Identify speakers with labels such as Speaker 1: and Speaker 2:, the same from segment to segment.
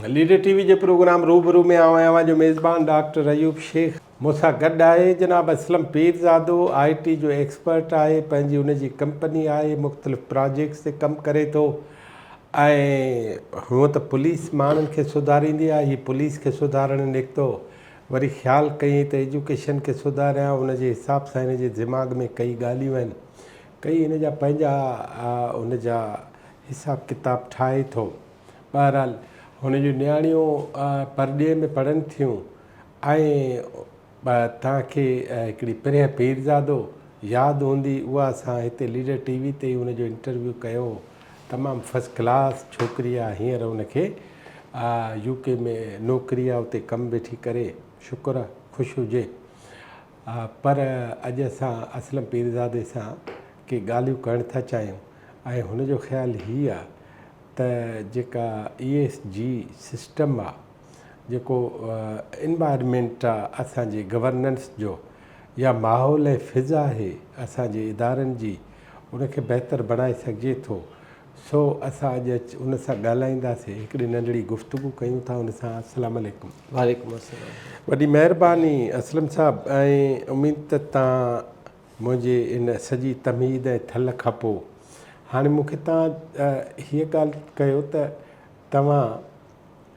Speaker 1: Leader ٽي V جي programme روبرو ۾ آئون اوهان جو ميزبان ڊاڪٽر ايوب شيخ مون سان گڏ آهي جناب اسلم پيرزادو آء ٽي جو ايڪسپرٽ آهي پنهنجي ان جي ڪمپني آهي مختلف پراجيڪٽس تي ڪم ڪري ٿو ۽ هونء ته پوليس ماڻهن کي سڌاريندي آهي هي پوليس کي سڌارڻ نڪتو وري خيال ڪيئين ته ايجوڪيشن کي سڌاريان ان جي حساب سان هن جي دماغ ۾ ڪئي ڳالهيون آهن ڪئي هن جا پنهنجا ان جا حساب ڪتاب ٺاهي ٿو بهرحال هن جون نياڻيون پرڏيهه ۾ پڙهن ٿيون ۽ توهان کي هڪڙي پرينء پيرزادو ياد هوندي اها اسان هتي ليڊر ٽي وي تي هن جو انٽرويو ڪيو هو تمام فرسٽ ڪلاس ڇوڪري آ هينئر ان کي يو ڪي ۾ نوڪري آ اتي ڪم ويٺي ڪري شڪر آ خوش هجي پر اڄ اسان اسلم پيرزادي سان ڪي ڳالهيون ڪرڻ ٿا چاهيون ۽ هن جو خيال هي آ ته جيڪا اي ايس جي سسٽم آ جيڪو انوائرمينٽ آ اسان جي گورننس جو يا ماحول ۽ فضا آهي اسان جي ادارن جي ان کي بهتر بڻائي سگهجي ٿو. سو اسان اڄ ان سان ڳالهائينداسين. هڪڙي ننڍڙي گفتگو ڪيون ٿا ان سان. السلام عليڪم. وعليڪم السلام.
Speaker 2: وڏي مهرباني
Speaker 1: اسلم صاحب ۽ اميد ته تان منهنجي ان سڄي تمهيد ۽ ٿل کانپو هاڻي مونکي تان هيء ڳالهه ڪيو ته توهان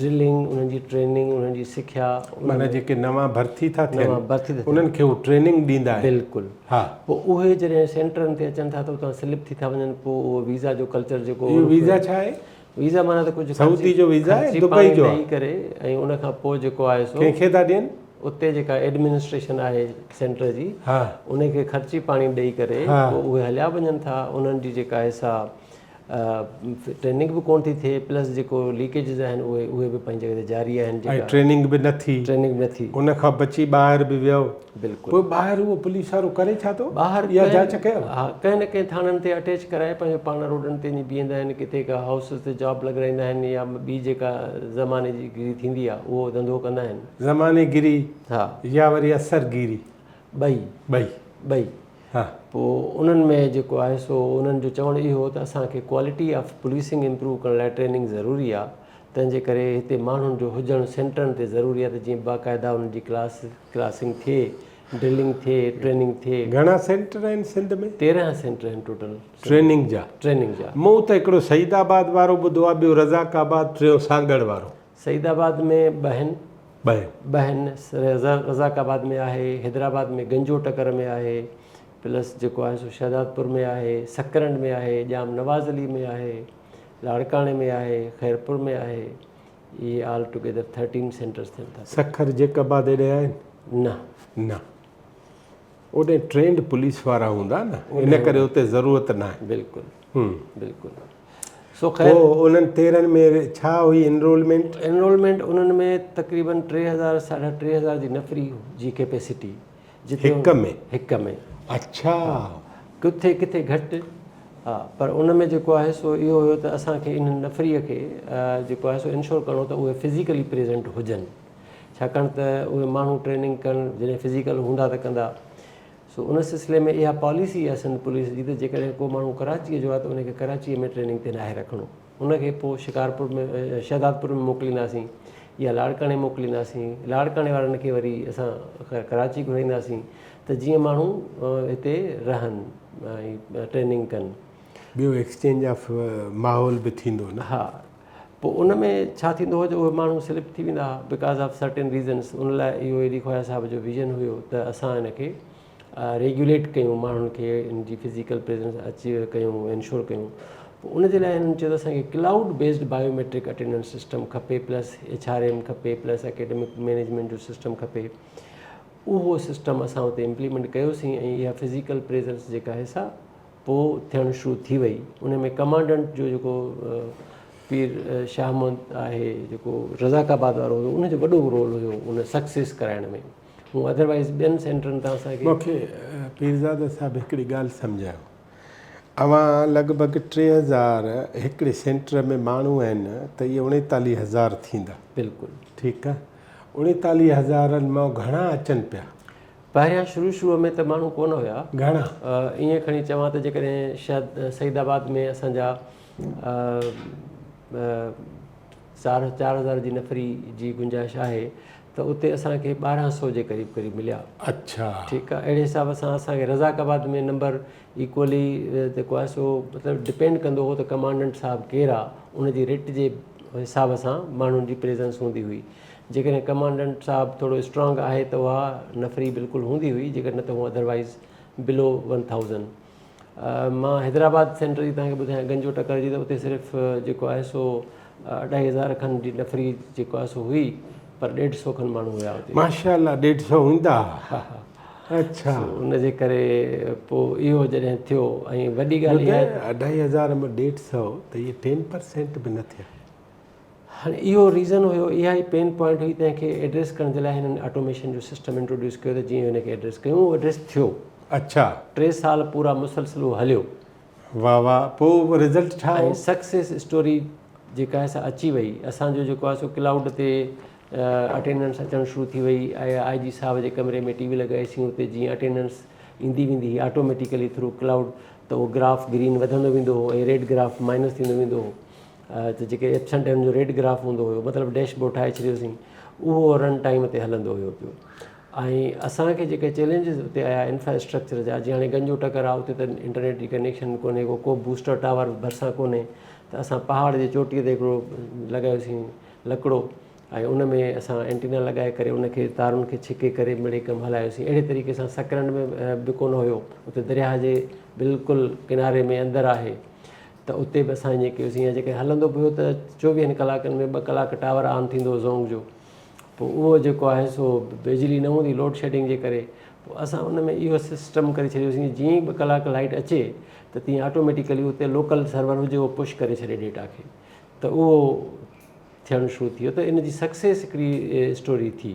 Speaker 2: ڊرلنگ، انهن جي ٽريننگ، انهن جي سکيا، معنيٰ جيڪي نوان
Speaker 1: ڀرتي ٿا ٿين، نوان ڀرتي ٿا ٿين. انهن کي
Speaker 2: هو ٽريننگ
Speaker 1: ڏيندا آهن. بلڪل. ها. پوء
Speaker 2: اهي
Speaker 1: جڏهن
Speaker 2: سينٽرن تي اچن ٿا ته اتان سليپ ٿي ٿا وڃن، پوء اهو ويزا جو ڪلچر جيڪو اهو ويزا ڇا آهي؟
Speaker 1: ويزا معنيٰ ته ڪجهه
Speaker 2: سعودي جو ويزا آهي، خرچي دبئي
Speaker 1: پاڻي جو آهي. ڏيئي ڪري ۽ ان
Speaker 2: کان پوء جيڪو آهي سو ڪنهن کي ٿا ڏين؟
Speaker 1: اتي جيڪا
Speaker 2: ايڊمنسٽريشن آهي سينٽر جي، ها. انهي کي
Speaker 1: خرچي
Speaker 2: پاڻي ڏيئي ڪري، ها. پوء اهي هليا وڃن ٿا، انهن جي جيڪا آهي سا ٽريننگ به ڪونه ٿي ٿئي پلس جيڪو ليڪيجز آهن اهي اهي به پنهنجي جڳهه تي جاري آهن ۽ ٽريننگ به نه ٿي
Speaker 1: ٽريننگ به نه ٿي ان کان بچي ٻاهر به ويو بلڪل پوء ٻاهر
Speaker 2: اهو پوليس
Speaker 1: وارو ڪري ڇا ٿو ٻاهر يا جاچ ڪيو
Speaker 2: ها
Speaker 1: ڪنهن نه ڪنهن ٿاڻن
Speaker 2: تي اٽيچ ڪرائي پنهنجو پاڻ روڊن تي وڃي بيهندا آهن ڪٿي ڪا هائوسز تي جاب لڳرائيندا آهن يا ٻي جيڪا زماني جي گيري ٿيندي آهي اهو ڌنڌو ڪندا آهن زماني گيري
Speaker 1: ها يا وري
Speaker 2: اثر
Speaker 1: گيري ٻئي ٻئي
Speaker 2: ٻئي ها
Speaker 1: پوء انهن
Speaker 2: ۾ جيڪو آهي سو انهن جو چوڻ اهو هو ته اسان کي ڪوالٽي آف پوليسنگ امپروو ڪرڻ لاء ٽريننگ ضروري آهي تنهن جي ڪري هتي ماڻهن جو هجڻ سينٽرن تي ضروري آهي ته جيئن باقاعده انهن جي ڪلاس ڪلاسنگ ٿئي ڊرلنگ ٿئي ٽريننگ ٿئي. گهڻا سينٽر آهن
Speaker 1: سنڌ ۾؟ تيرنهن سينٽر آهن
Speaker 2: ٽوٽل ٽريننگ جا
Speaker 1: ٽريننگ جا. مون ته هڪڙو سعيد آباد وارو ٻڌو آهي ٻيو رزاق آباد ٽيون سانگهڙ وارو. سعيد آباد ۾
Speaker 2: ٻهن ٻهن رزاق آباد ۾ آهي حيدرآباد ۾ گنجو ٽڪر ۾ آهي پلس جيڪو آهي سو شهدادپور ۾ آهي سڪرنڊ ۾ آهي ڄام نواز علي ۾ آهي لاڙڪاڻي ۾ آهي خيرپور ۾ آهي اهي آل ٽوگيدر ٿرٽين سينٽرس ٿين ٿا سکر جيڪب آباد
Speaker 1: ايڏي آهن نه نه اوڏي ٽرينڊ پوليس وارا هوندا نه ان ڪري اتي ضرورت ناهي بلڪل بلڪل
Speaker 2: سو خير پوء انهن
Speaker 1: تيرن ۾ ڇا هئي انرولمينٽ انرولمينٽ انهن ۾
Speaker 2: تقريبن ٽي هزار ساڍا ٽي هزار جي نفري جي ڪيپيسٽي جتي هڪ ۾ هڪ ۾ اڇا ڪٿي ڪٿي گهٽ ها پر ان ۾ جيڪو آهي سو اهو هيو ته اسان کي انهن نفري کي جيڪو آهي سو انشور ڪرڻو ته اهي فزيڪلي پريزنٽ هجن ڇاڪاڻ ته اهي ماڻهو ٽريننگ ڪن جڏهن فزيڪل هوندا ته ڪندا سو ان سلسلي ۾ اها پاليسي آهي سنڌ پوليس جي ته جيڪڏهن ڪو ماڻهو ڪراچيء جو آهي ته ان کي ڪراچيء ۾ ٽريننگ تي ناهي رکڻو ان کي پوء شڪارپور ۾ شهدادپور ۾ موڪلينداسين يا لاڙڪاڻي موڪلينداسين لاڙڪاڻي وارن کي وري اسان ڪراچي گهرائينداسين ته جيئن ماڻهو هتي رهن ۽ ٽريننگ ڪن ٻيو ايڪسچينج
Speaker 1: آف ماحول به ٿيندو نه ها پوء ان ۾
Speaker 2: ڇا ٿيندو هو جو اهي ماڻهو سلپ ٿي ويندا ها بڪاز آف سرٽن ريزنس ان لاء اهو علي خواجه صاحب جو ويزن هيو ته اسان ان کي ريگيوليٽ ڪيون ماڻهن کي ان جي فزيڪل پريزنس اچي ڪيون انشور ڪيون پوء ان جي لاء هنن چيو ته اسان کي cloud based biometric attendance system کپي پلس ايڇ آر ايم کپي پلس اڪيڊمڪ مينيجمينٽ جو سسٽم کپي اهو سسٽم اسان اتي امپليمينٽ ڪيوسين ۽ اها فزيڪل پريزنس جيڪا هي سا پوء ٿيڻ شروع ٿي وئي ان ۾ ڪمانڊنٽ جو جيڪو پير شاهه محمد آهي جيڪو رزاق آباد وارو هيو ان جو وڏو رول هيو ان سڪسيس ڪرائڻ ۾ هو اڌروائز ٻين سينٽرن
Speaker 1: تان اسان
Speaker 2: کي مونکي
Speaker 1: پيرزاده
Speaker 2: صاحب
Speaker 1: هڪڙي
Speaker 2: ڳالهه
Speaker 1: سمجهايو اوهان لڳ ڀڳ ٽي هزار هڪڙي سينٽر ۾ ماڻهو آهن ته اهي اڻيتاليهه هزار ٿيندا بلڪل ٺيڪ
Speaker 2: آهي
Speaker 1: اڻيتاليهه هزارن مان گهڻا اچن پيا پهريان شروع
Speaker 2: شروع ۾ ته ماڻهو ڪونه هيا. گهڻا.
Speaker 1: ائين کڻي
Speaker 2: چوان ته جيڪڏهن شهد سعيد آباد ۾ اسان جا چار چار هزار جي نفري جي گنجائش آهي ته اتي اسان کي ٻارهن سو جي قريب قريب مليا. اڇا. ٺيڪ
Speaker 1: آهي اهڙي حساب
Speaker 2: سان اسان کي رزاق آباد ۾ نمبر ايڪولي جيڪو آهي سو مطلب ڊپينڊ ڪندو هو ته ڪمانڊنٽ صاحب ڪير آهي ان جي رٽ جي حساب سان ماڻهن جي پريزنس هوندي هئي جيڪڏهن ڪمانڊنٽ صاحب ٿورو اسٽرانگ آهي ته اها نفري بلڪل هوندي هئي جيڪڏهن نه ته هو اڌروائيز بلو ون ٿائوزنڊ مان حيدرآباد سينٽر جي تهانکي ٻڌايان گنجو ٽڪر جي ته اتي صرف جيڪو آهي سو اڍائي هزار کن جي نفري جيڪو آهي سو هئي پر ڏيڍ سو کن ماڻهو هيا اتي ماشاء الله ڏيڍ سو
Speaker 1: هوندا
Speaker 2: اچھا
Speaker 1: ان جي ڪري
Speaker 2: پو اهو جڏهن ٿيو ۽ وڏي ڳالهه اڍائي هزار ۾ ڏيڍ
Speaker 1: سو ته اهي ٽين پرسينٽ به نه ٿيا هاڻي
Speaker 2: اهو ريزن هيو، اها ئي پين پوائنٽ هئي تنهن کي ايڊريس ڪرڻ جي لاء هنن آٽوميشن جو سسٽم انٽروڊيوس ڪيو ته جيئن هن کي ايڊريس ڪيون اهو ايڊريس ٿيو. اڇا. ٽي
Speaker 1: سال
Speaker 2: پورا مسلسل اهو هليو. واھ واھ
Speaker 1: پو رزلٽ ڇا هو؟ ۽ سڪسيس اسٽوري
Speaker 2: جيڪا آهي سا اچي وئي اسان جو جيڪو آهي سو ڪلائوڊ تي اٽينڊنس اچڻ شروع ٿي وئي آيا آء جي صاحب جي ڪمري ۾ ٽي وي لڳائي سين اتي جيئن اٽينڊنس ايندي ويندي هئي آٽوميٽيڪلي ٿرو ڪلائوڊ ته اهو گراف گرين وڌندو ويندو هو ۽ ريڊ گراف مائنس ٿيندو ويندو هو ته جيڪي ايپسنٽ ٽائيم جو ريڊ گراف هوندو هيو مطلب ڊيش بورڊ ٺاهي ڇڏيوسين اهو رن ٽائيم تي هلندو هيو پيو ۽ اسانکي جيڪي چيلينجز اتي آيا انفراسٽرڪچر جا جيئن هاڻي گنجو ٽڪر آهي اتي ته انٽرنيٽ جي ڪنيڪشن ڪونهي ڪو ڪو بوسٽر ٽاور ڀرسان ڪونهي ته اسان پهاڙ جي چوٽيء تي هڪڙو لڳايوسين لڪڙو ۽ ان ۾ اسان اينٽينا لڳائي ڪري ان کي تارن کي ڇڪي ڪري مڙئي ڪم هلايوسين اهڙي طريقي سان سڪرنڊ ۾ به ڪونه هيو اتي درياهه جي بلڪل ڪناري ۾ اندر آهي ته اتي به اسان ائين ڪيوسين يا جيڪڏهن هلندو به هو ته چوويهن ڪلاڪن ۾ ٻه ڪلاڪ ٽاور آن ٿيندو هو زونگ جو پوء اهو جيڪو آهي سو بجلي نه هوندي لوڊ شيڊنگ جي ڪري پوء اسان ان ۾ اهو سسٽم ڪري ڇڏيوسين جيئن ئي ٻه ڪلاڪ لائٽ اچي ته تيئن آٽوميٽيڪلي اتي لوڪل سرور هجي اهو پش ڪري ڇڏي ڊيٽا کي ته اهو ٿيڻ شروع ٿي ويو ته ان جي سڪسيس هڪڙي اسٽوري ٿي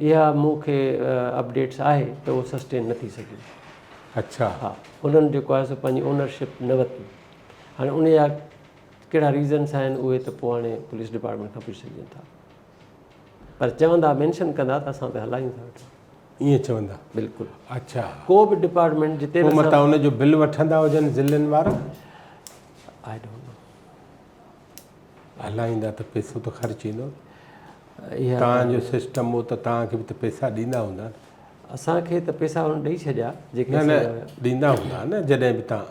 Speaker 2: اها مون کي اپڊيٽس آهي ته اهو سسٽين نه ٿي سگهيو. اڇا.
Speaker 1: ها انهن
Speaker 2: جيڪو آهي سو پنهنجي اونر شپ نه ورتي هاڻي ان جا ڪهڙا ريزنس آهن اهي ته پوء هاڻي پوليس ڊپارٽمينٽ کان پڇي سگهجن ٿا پر چوندا مينشن ڪندا ته اسان ته هلايون ٿا ويٺا ائين چوندا
Speaker 1: بلڪل اچھا
Speaker 2: ڪو به
Speaker 1: ڊپارٽمينٽ
Speaker 2: جتي به متان ان جو بل وٺندا
Speaker 1: هجن ضلعن وارا
Speaker 2: آئي ڊونٽ نو
Speaker 1: هلائيندا ته پئسو ته خرچ ايندو اها
Speaker 2: تان جو سسٽم
Speaker 1: هو ته تان کي به ته پئسا ڏيندا هوندا اسان کي ته
Speaker 2: پئسا هن ڏئي ڇڏيا جيڪي نه ڏيندا
Speaker 1: هوندا نه جڏهن به تان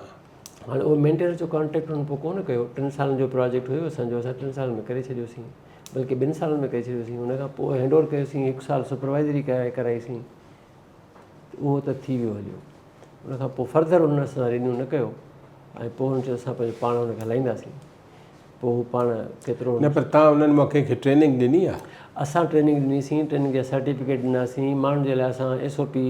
Speaker 1: هاڻي اهو مينٽيننس
Speaker 2: جو ڪانٽريڪٽ هن پوء ڪونه ڪيو ٽن سالن جو پروجيڪٽ هيو اسان جو اسان ٽن سالن ۾ ڪري ڇڏيوسين بلڪه ٻن سالن ۾ ڪري ڇڏيوسين ان کان پوء هينڊ اوور ڪيوسين هڪ سال سپروائزري ڪرائي ڪرائيسين اهو ته ٿي ويو هليو. ان کان پوء فرڌر ان سان رينيو نه ڪيو ۽ پوء هن چيو اسان پنهنجو پاڻ هن کي هلائينداسين پوء هو پاڻ ڪيترو نه پر تان انهن مان
Speaker 1: ڪنهن کي ٽريننگ ڏني آهي اسان ٽريننگ ڏني
Speaker 2: سين ٽريننگ جا سرٽيفڪيٽ ڏناسين ماڻهن جي لاء اسان S O P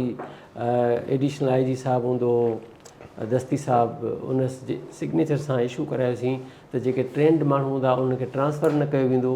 Speaker 2: additional I G صاحب هوندو هو دستي صاحب ان جي سگنيچر سان اشو ڪرايوسين ته جيڪي ٽرينڊ ماڻهو هوندا انهن کي ٽرانسفر نه ڪيو ويندو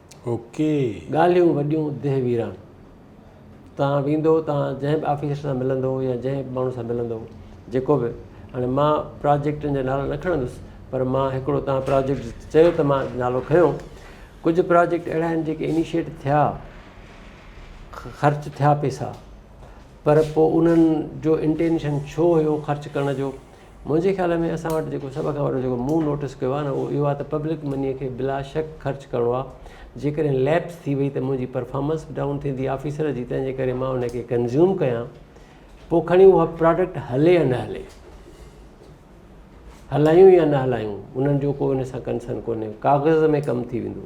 Speaker 2: ڳالهيون وڏيون ديهه ويران. تان ويندو تان جنهن به آفيسر سان ملندو يا جنهن به ماڻهو سان ملندو جيڪو به هاڻي مان پراجيڪٽن جا نالا نه کڻندس پر مان هڪڙو تان پراجيڪٽ چيو ته مان نالو کنيو ڪجهه پراجيڪٽ اهڙا آهن جيڪي انيشيٽ ٿيا خرچ ٿيا پئسا پر پوء انهن جو انٽينشن ڇو هيو خرچ ڪرڻ جو منهنجي خيال ۾ اسان وٽ جيڪو سڀ کان وڏو جيڪو مون نوٽس ڪيو آهي نه اهو اهو آهي ته پبلڪ مني کي بلاشڪ خرچ ڪرڻو آهي جيڪڏهن ليپس ٿي وئي ته منهنجي پرفارمنس به ڊائون ٿيندي آفيسر جي تنهن جي ڪري مان ان کي ڪنزيوم ڪيان پوء کڻي اها پراڊڪٽ هلي يا نه هلي هلايون يا نه هلايون انهن جو ڪو ان سان ڪنسن ڪونهي ڪاغذ ۾ ڪم ٿي ويندو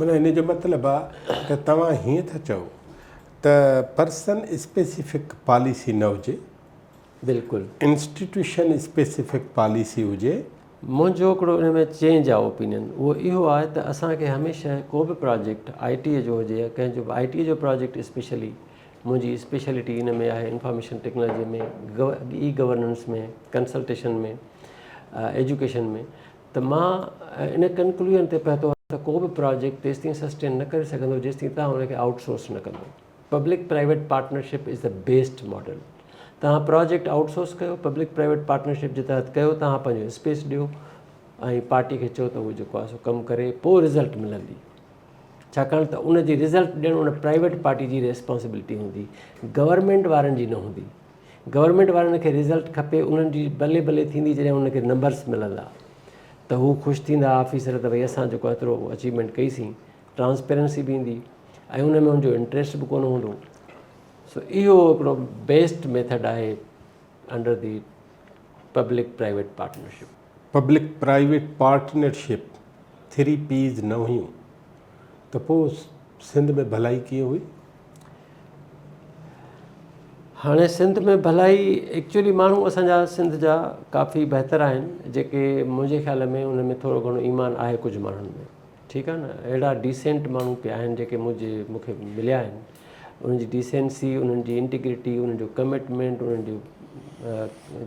Speaker 2: معنيٰ هن جو
Speaker 1: مطلب آ ته توهان هيئن ٿا چئو ته پرسن اسپيسيفڪ پاليسي نه هجي، بلڪل
Speaker 2: انسٽيٽيوشن
Speaker 1: اسپيسيفڪ پاليسي هجي. منهنجو هڪڙو
Speaker 2: ان ۾ چينج آف اوپينين اهو اهو آهي ته اسان کي هميشه ڪو به پراجيڪٽ آء ٽي جو هجي يا ڪنهن جو به آء ٽي جو پراجيڪٽ اسپيشلي منهنجي اسپيشلٽي ان ۾ آهي information technology ۾ e governance ۾ consultation ۾ education ۾ ته مان ان ڪنڪلوزن تي پهتو آهيان ته ڪو به پراجيڪٽ تيستائين سسٽين نه ڪري سگهندو جيستائين توهان ان کي آئوٽ سورس نه ڪندو. Public private partnership is the best model. توهان پراجيڪٽ آئوٽ سورس ڪيو، پبلڪ پرائيويٽ پارٽنرشپ جي تحت ڪيو، توهان پنهنجو اسپيس ڏيو ۽ پارٽي کي چئو ته هو جيڪو آهي سو ڪم ڪري پوء رزلٽ ملندي. ڇاڪاڻ ته ان جي رزلٽ ڏيڻ ان پرائيويٽ پارٽي جي ريسپانسبلٽي هوندي، گورنمينٽ وارن جي نه هوندي. گورنمينٽ وارن کي رزلٽ کپي انهن جي بلي بلي ٿيندي جڏهن انهن کي نمبرس ملندا ته هو خوش ٿيندا آفيسر ته ڀئي اسان جيڪو ايترو اچيومينٽ ڪئي سين ٽرانسپيرنسي به ايندي ۽ ان ۾ ان جو انٽريسٽ به ڪونه هوندو سو اهو هڪڙو بيسٽ ميٿڊ آهي under the public private partnership public private
Speaker 1: partnership three P's نه هيون ته پوء سنڌ ۾ ڀلائي ڪيئن هئي؟
Speaker 2: هاڻي سنڌ ۾ ڀلائي ايڪچولي ماڻهو اسان جا سنڌ جا ڪافي بهتر آهن جيڪي منهنجي خيال ۾ انهن ۾ ٿورو گهڻو ايمان آهي ڪجهه ماڻهن ۾ ٺيڪ آهي نه اهڙا ڊيسينٽ ماڻهو پي آهن جيڪي منهنجي مون کي مليا آهن انهن جي ڊيسينسي انهن جي انٽيگريٽي انهن جو ڪمٽمينٽ انهن جو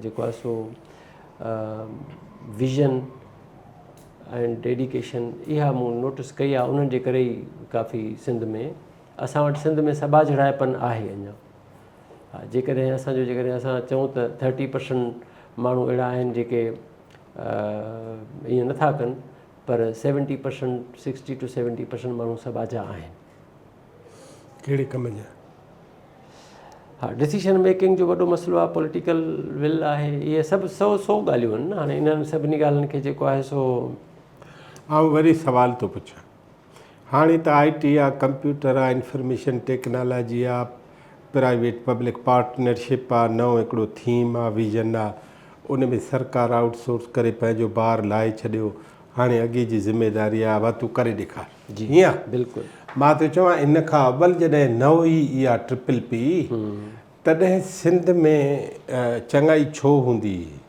Speaker 2: جيڪو آهي سو ويزن ۽ ڊيڊيڪيشن اها مون نوٽس ڪئي آهي انهن جي ڪري ئي ڪافي سنڌ ۾ اسان وٽ سنڌ ۾ سٻاجهڙائپن آهي اڃا ها جيڪڏهن اسان جو جيڪڏهن اسان چئون ته ٿرٽي پرسنٽ ماڻهو اهڙا آهن جيڪي ائين نٿا ڪن پر seventy percent sixty to seventy percent ماڻهو سٻاجها آهن
Speaker 1: ڪهڙي ڪم جا.
Speaker 2: ها ڊسيشن ميڪنگ جو وڏو مسئلو آهي پوليٽيڪل ول آهي اهي سڀ سو سو ڳالهيون آهن هاڻي انهن سڀني ڳالهين کي جيڪو آهي سو
Speaker 1: آئون وري سوال ٿو پڇان هاڻي ته آئي ٽي آ ڪمپيوٽر آ انفارميشن ٽيڪنالاجي آ پرائيويٽ پبلڪ پارٽنرشپ آ نئون هڪڙو ٿيم آ ويزن آ ان ۾ سرڪار آئوٽ سورس ڪري پنهنجو بار لاهي ڇڏيو هاڻي اڳي جي ذميداري آ اها تون ڪري ڏيکار جي ها بلڪل مان ٿو
Speaker 2: چوان ان
Speaker 1: کان اول جڏهن نه هئي اها ٽرپل پي تڏهن سنڌ ۾ چڱائي ڇو هوندي هئي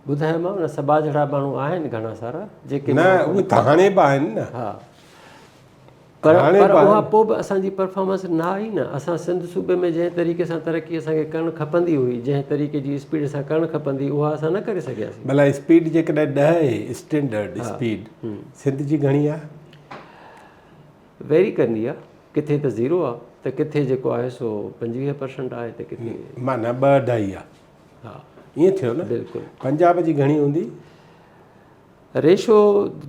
Speaker 2: ٻڌايوماء نه سبا جهڙا ماڻهو آهن گهڻا سارا جيڪي نه اهي ته هاڻي
Speaker 1: به آهن نه
Speaker 2: ها پر پر اها پوء به اسان جي پرفارمنس نه آئي نه اسان سنڌ صوبي ۾ جنهن طريقي سان ترقي اسان کي ڪرڻ کپندي هئي جنهن طريقي جي اسپيڊ سان ڪرڻ کپندي اها اسان نه ڪري سگهياسين بلا اسپيڊ جيڪڏهن
Speaker 1: ڏهه اسٽينڊرڊ اسپيڊ سنڌ جي گهڻي آ.
Speaker 2: ويري ڪندي آ ڪٿي ته زيرو آ ته ڪٿي جيڪو آهي سو پنجويهه پرسنٽ آهي ته ڪٿي. معنيٰ ٻه اڍائي
Speaker 1: آ. ها ائين
Speaker 2: ٿيو نه
Speaker 1: بلڪل. پنجاب جي
Speaker 2: گهڻي هوندي. ريشو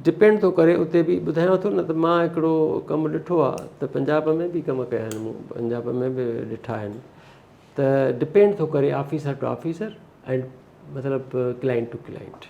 Speaker 2: ڊپينڊ ٿو ڪري اتي به ٻڌايان ٿو نه ته مان هڪڙو ڪم ڏٺو آ ته پنجاب ۾ به ڪم ڪيا آهن مون پنجاب ۾ به ڏٺا آهن ته ڊپينڊ ٿو ڪري آفيسر ٽو آفيسر ۽ مطلب ڪلائنٽ ٽو ڪلائنٽ.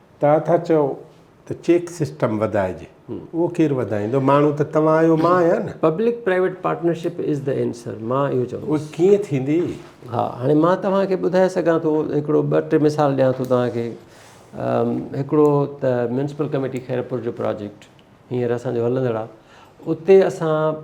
Speaker 1: توهان
Speaker 2: ٿا
Speaker 1: چئو ته چيڪ سسٽم وڌائجي اهو ڪير وڌائيندو ماڻهو ته توهان آهيو مان آهيان نه. Public private partnership
Speaker 2: is the answer مان اهو چوندس. اهو ڪيئن ٿيندي؟
Speaker 1: ها هاڻي
Speaker 2: مان توهان کي ٻڌائي سگهان ٿو هڪڙو ٻه ٽي مثال ڏيان ٿو توهان کي هڪڙو ته ميونسپل ڪميٽي خيرپور جو پراجيڪٽ هينئر اسان جو هلندڙ آهي اتي اسان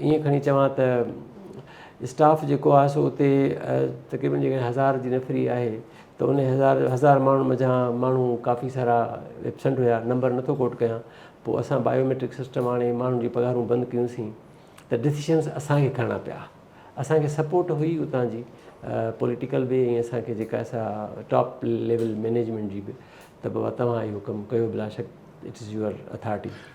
Speaker 2: ائين کڻي چوان ته اسٽاف جيڪو آهي سو اتي تقريبن جيڪڏهن هزار جي نفري آهي ته ان هزار هزار ماڻهن منجهان ماڻهو ڪافي سارا ايبسنٽ هيا نمبر نٿو ڪوٽ ڪيان پوء اسان بايو ميٽرڪ سسٽم آڻي ماڻهن جي پگهارون بند ڪيون سين ته ڊسيشنس اسان کي کڻڻا پيا اسان کي سپورٽ هئي اتان جي پوليٽيڪل به ۽ اسان کي جيڪا سا ٽاپ ليول مينيجمينٽ جي به ته بابا توهان اهو ڪم ڪيو بلا شڪ اٽس يوئر اٿارٽي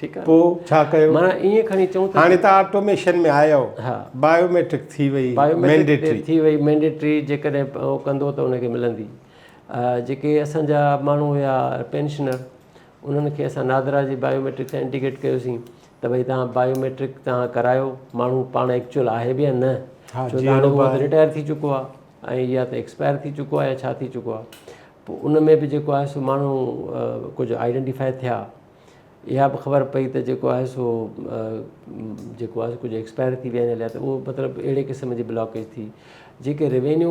Speaker 2: ٺيڪ آ
Speaker 1: پو ڇا ڪيو
Speaker 2: معنيٰ
Speaker 1: ايئن کڻي چئون ته
Speaker 2: هاڻي ته آٽوميشن ۾
Speaker 1: آيو ها بايو ميٽرڪ
Speaker 2: ٿي
Speaker 1: وئي بايو ميٽرڪ ٿي وئي
Speaker 2: مينڊيٽري جيڪڏهن هو ڪندو ته ان کي ملندي جيڪي اسان جا ماڻهو هيا پينشنر انهن کي اسان نادرا جي بايو ميٽرڪ سان انڊيڪيٽ ڪيوسين ته ڀائی تان بايو ميٽرڪ تان ڪرايو ماڻهو پاڻ ايڪچوئل آهي به يا نه ڇو ته هاڻي هو رٽائر ٿي چڪو آ ۽ يا ته ايڪسپائر ٿي چڪو آ يا ڇا ٿي چڪو آ پو ان ۾ به جيڪو آهي سو ماڻهو ڪجهه آئيڊينٽيفائي ٿيا اها به خبر پئي ته جيڪو آهي سو جيڪو آهي ڪجهه ايڪسپائر ٿي ويا آهن هليا ته اهو مطلب اهڙي قسم جي بلاڪيج ٿي جيڪي ريونيو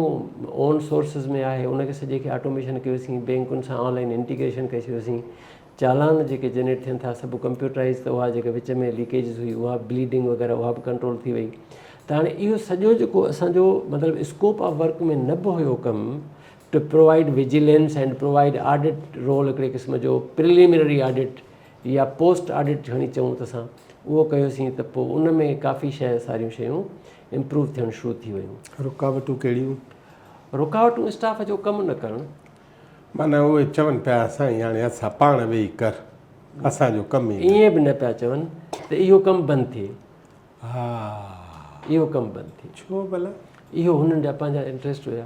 Speaker 2: اون سورسز ۾ آهي ان کي سڄي کي آٽوميشن ڪيوسين بينڪن سان آن لائن انٽيگريشن ڪئي ڇڏيوسين چالان جيڪي جنريٽ ٿين ٿا سڀ ڪمپيوٽرائز ته اها جيڪا وچ ۾ ليڪيجز هئي اها بليڊنگ وغيره اها به ڪنٽرول ٿي وئي ته هاڻي اهو سڄو جيڪو اسانجو مطلب اسڪوپ آف ورڪ ۾ نه به هيو ڪم to provide vigilance and provide audit role هڪڙي قسم جو پريليمنري آڊٽ يا پوسٽ آڊٽ کڻي چئون ته اسان اهو ڪيوسين ته پوء ان ۾ ڪافي شيء ساريون شيون امپروو ٿيڻ شروع ٿي ويون. رڪاوٽون ڪهڙيون؟
Speaker 1: رڪاوٽون
Speaker 2: اسٽاف جو ڪم نه ڪرڻ. معنيٰ اهي
Speaker 1: چون پيا سائين هاڻي اسان پاڻ ويهي ڪر اسان جو ڪم ئي نه. ائين به نه پيا چون
Speaker 2: ته اهو ڪم بند ٿئي. ها. اهو ڪم بند ٿئي. ڇو ڀلا؟ اهو
Speaker 1: هنن جا
Speaker 2: پنهنجا انٽريسٽ هيا.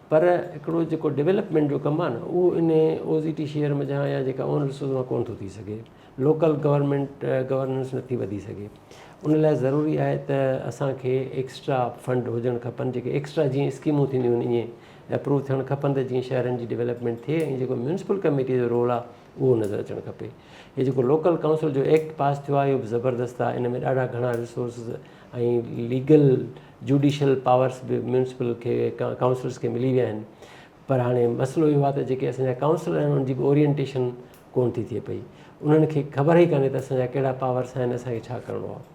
Speaker 2: پر هڪڙو جيڪو ڊيولپمينٽ جو ڪم آهي نه اهو ان او زي ٽي شيئر منجهان يا جيڪا اون رسورس مان ڪونه ٿو ٿي سگهي. لوڪل گورنمينٽ گورننس نٿي وڌي سگهي. ان لاء ضروري آهي ته اسان کي ايڪسٽرا فنڊ هجڻ کپن جيڪي ايڪسٽرا جيئن اسڪيمون ٿينديون آهن ائين اپروو ٿيڻ کپن ته جيئن شهرن جي ڊيولپمينٽ ٿئي ۽ جيڪو ميونسپل ڪميٽي جو رول آهي اهو نظر اچڻ کپي. هي جيڪو لوڪل ڪائونسل جو ايڪٽ پاس ٿيو آهي اهو به زبردست آهي ان ۾ ڏاڍا گهڻا رسورسز ۽ ليگل جوڊيشل پاورس به ميونسپل کي ڪائونسلرس کي ملي ويا آهن پر هاڻي مسئلو اهو آهي ته جيڪي اسان جا ڪائونسلر آهن انهن جي به اورينٽيشن ڪونه ٿي ٿئي پئي انهن کي خبر ئي ڪانهي ته اسان جا ڪهڙا پاورس آهن اسان کي ڇا ڪرڻو آهي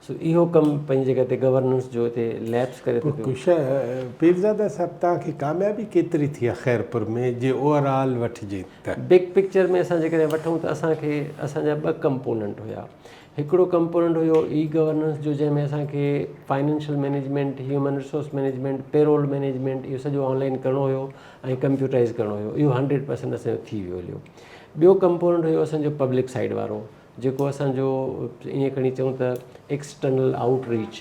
Speaker 2: سو اهو ڪم پنهنجي جڳهه تي گورننس جو هتي ليپس ڪري ٿو پيو پيرزاده
Speaker 1: صاحب توهان کي ڪاميابي ڪيتري ٿي آهي خيرپور ۾ جي اوور آل وٺجي ته؟ بگ پڪچر ۾ اسان
Speaker 2: جيڪڏهن وٺون ته اسان کي اسان جا ٻه ڪمپوننٽ هيا هڪڙو ڪمپوننٽ هيو اي گورننس جو جنهن ۾ اسان کي financial management, human resource management, payroll management اهو سڄو آن لائين ڪرڻو هيو ۽ ڪمپيوٽرائز ڪرڻو هيو اهو هنڊريڊ پرسينٽ اسان جو ٿي ويو هليو. ٻيو ڪمپوننٽ هيو اسان جو پبلڪ سائيڊ وارو جيڪو اسان جو ائين کڻي چئون ته ايڪسٽرنل آئوٽ ريچ،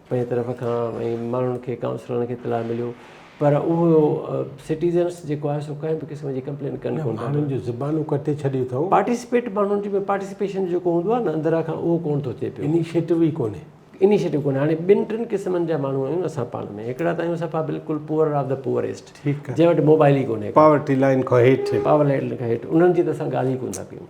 Speaker 2: پنهنجي طرف کان ۽ ماڻهن کي ڪائونسلرن کي اطلاع مليو پر اهو سٽيزنس جيڪو آهي سو ڪنهن به قسم جي ڪمپلين ڪن ڪون ماڻهن جو زبانون ڪٽي
Speaker 1: ڇڏيو اٿو پارٽيسپيٽ ماڻهن جي ۾
Speaker 2: پارٽيسپيشن جيڪو هوندو آهي نه اندرا کان اهو ڪون ٿو ٿئي پيو انيشيٽو ئي ڪونهي
Speaker 1: انيشيٽو ڪونهي هاڻي
Speaker 2: ٻن ٽن قسمن جا ماڻهو آهيون اسان پاڻ ۾ هڪڙا ته آهيون صفا بلڪل پوئر آف دا پوئريسٽ جنهن وٽ موبائل
Speaker 1: ئي ڪونهي
Speaker 2: پاورٽي لائن کان هيٺ
Speaker 1: پاورٽي لائن کان هيٺ
Speaker 2: انهن جي ته اسان ڳالهه ئي ڪون ٿا ڪيون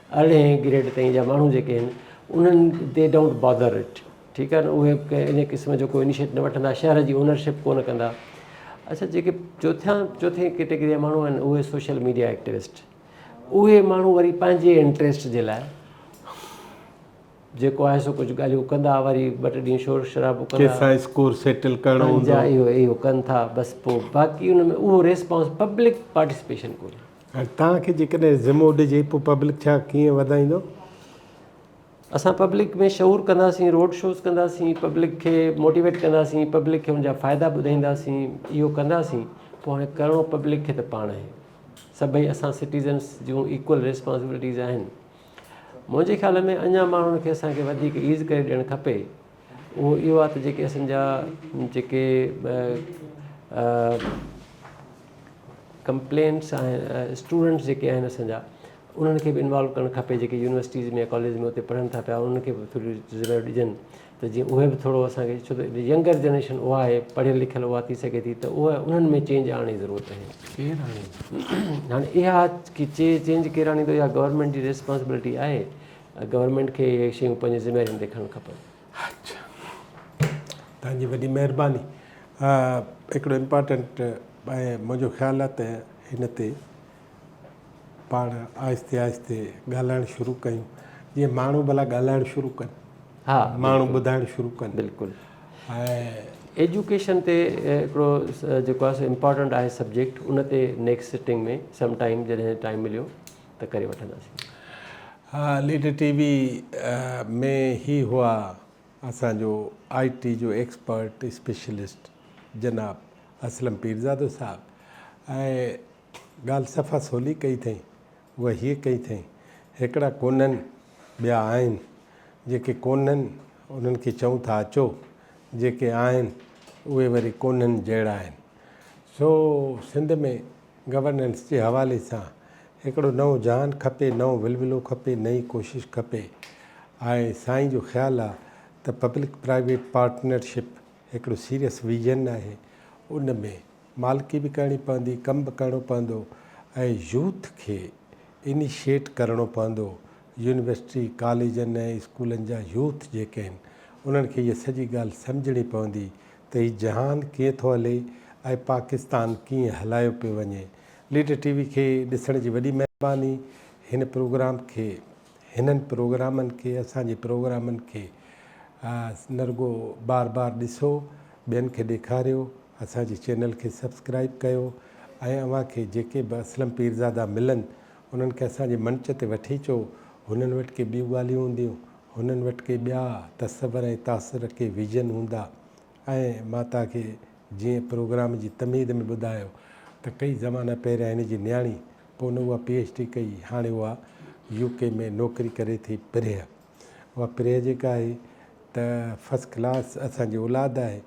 Speaker 2: ارڙهين گريڊ تائين جا ماڻهو جيڪي آهن انهن دي ڊونٽ بادر اٽ ٺيڪ آهي نه اهي ڪنهن ان قسم جو ڪو انيشيٽ نه وٺندا شهر جي اونرشپ ڪو نه ڪندا اچا جيڪي چوٿيان چوٿين ڪيٽيگري جا ماڻهو آهن اهي سوشل ميڊيا ايڪٽيوسٽ اهي ماڻهو وري پنهنجي انٽرسٽ جي لاء جيڪو آهي سو ڪجهه ڳالهيون ڪندا وري ٻه ٽه ڏينهن شور شرابو ڪندا ڪيسا اسڪور سيٽل
Speaker 1: ڪرڻو هوندو اهو اهو ڪن ٿا
Speaker 2: بس پوء باقي ان ۾ اهو ريسپانس پبلڪ پارٽيسپيشن ڪونهي هاڻي توهان کي جيڪڏهن
Speaker 1: ذمو ڏجي پوء پبلڪ ڇا ڪيئن وڌائيندو؟
Speaker 2: اسان پبلڪ ۾ شعور ڪنداسين، روڊ شوز ڪنداسين، پبلڪ کي موٽيويٽ ڪنداسين، پبلڪ کي ان جا فائدا ٻڌائينداسين، اهو ڪنداسين، پوء هاڻي ڪرڻو پبلڪ کي ته پاڻ آهي. سڀئي اسان سٽيزنس جون ايڪول ريسپانسبلٽيز آهن. منهنجي خيال ۾ اڃا ماڻهن کي اسان کي وڌيڪ ايز ڪري ڏيڻ کپي اهو اهو آهي ته جيڪي اسان جا جيڪي ڪمپلينٽس آهن اسٽوڊنٽس جيڪي آهن اسان جا انهن کي بي انوالو ڪرڻ کپي جيڪي يونيورسٽيز ۾ ڪاليج ۾ اتي پڙهن ٿا پيا انهن کي به ٿوريون ذميواريون ڏجن ته جيئن اهي به ٿورو اسان کي ڇو ته ينگر جنريشن اها آهي پڙهيل لکيل اها ٿي سگهي ٿي ته اها انهن ۾ چينج آڻڻ جي ضرورت آهي ڪير آڻي هاڻي اها چينج ڪير آڻيندو اها گورنمينٽ جي ريسپانسبلٽي آهي گورنمينٽ کي اهي شيون پنهنجي ذميواري هوندي کڻڻ کپن. اچھا
Speaker 1: توهان جي وڏي مهرباني هڪڙو امپارٽنٽ ۽ منهنجو خيال آهي ته هن تي پاڻ آهستي آهستي ڳالهائڻ شروع ڪيون جيئن ماڻهو ڀلا ڳالهائڻ شروع ڪن ها ماڻهو
Speaker 2: ٻڌائڻ
Speaker 1: شروع ڪن بلڪل
Speaker 2: ۽
Speaker 1: ايجوڪيشن
Speaker 2: تي هڪڙو جيڪو آهي سو امپارٽنٽ آهي سبجيڪٽ ان تي نيڪسٽ سٽنگ ۾ سم ٽائيم جڏهن ٽائيم مليو ته ڪري وٺنداسين. ها
Speaker 1: ليڊر ٽي وي ۾ هي هئا اسان جو آء ٽي جو ايڪسپرٽ اسپيشلسٽ جناب اسلم پيرزادو صاحب ۽ ڳالهه صفا سولي ڪئي ٿئين اها هيء ڪئي ٿئين هڪڙا ڪونهن ٻيا آهن جيڪي ڪونهن انهن کي چئون ٿا اچو جيڪي آهن اهي وري ڪونهن جهڙا آهن سو سنڌ ۾ گورننس جي حوالي سان هڪڙو نئون جهان کپي، نئون ولولو کپي، نئين ڪوشش کپي ۽ سائين جو خيال آ ته پبلڪ پرائيويٽ پارٽنرشپ هڪڙو سيريس ويزن آهي، ان ۾ مالڪي به ڪرڻي پوندي، ڪم به ڪرڻو پوندو ۽ يوٿ کي انيشيئيٽ ڪرڻو پوندو، يونيورسٽي، ڪاليجن ۽ اسڪولن جا يوٿ جيڪي آهن انهن کي هيء سڄي ڳالهه سمجهڻي پوندي ته هي جهان ڪيئن ٿو هلي ۽ پاڪستان ڪيئن هلايو پيو وڃي. ليڊر ٽي وي کي ڏسڻ جي وڏي مهرباني هن پروگرام کي هنن پروگرامن کي اسان جي پروگرامن کي نه رڳو بار بار ڏسو ٻين کي ڏيکاريو اسان جي چينل کي سبسڪرائب ڪيو ۽ اوهان کي جيڪي به اسلم پيرزادا ملن انهن کي اسان جي منچ تي وٺي اچو، هنن وٽ ڪي ٻيون ڳالهيون هونديون، هنن وٽ ڪي ٻيا تصور ۽ تاثر، ڪي ويزن هوندا ۽ مان توهان کي جيئن پروگرام جي تمهيد ۾ ٻڌايو ته ڪئي زمانا پهريان هن جي نياڻي پون اها پي ايڇ ڊي ڪئي هاڻي اها يو ڪي ۾ نوڪري ڪري ٿي پرهه اها پرينء جيڪا آهي ته فرسٽ ڪلاس اسان جي اولاد آهي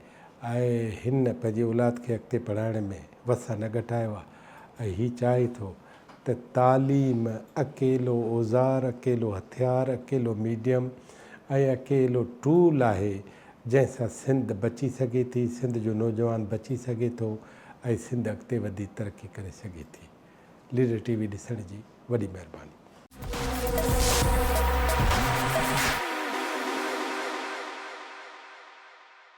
Speaker 1: ۽ هن پنهنجي اولاد کي اڳتي پڙهائڻ ۾ وسع نه گهٽايو آهي ۽ هي چاهي ٿو ته تعليم اڪيلو اوزار، اڪيلو هٿيار، اڪيلو ميڊيم ۽ اڪيلو ٽول آهي جنهن سان سنڌ بچي سگهي ٿي، سنڌ جو نوجوان بچي سگهي ٿو ۽ سنڌ اڳتي وڌي ترقي ڪري سگهي ٿي. ليڊر ٽي وي ڏسڻ جي وڏي مهرباني.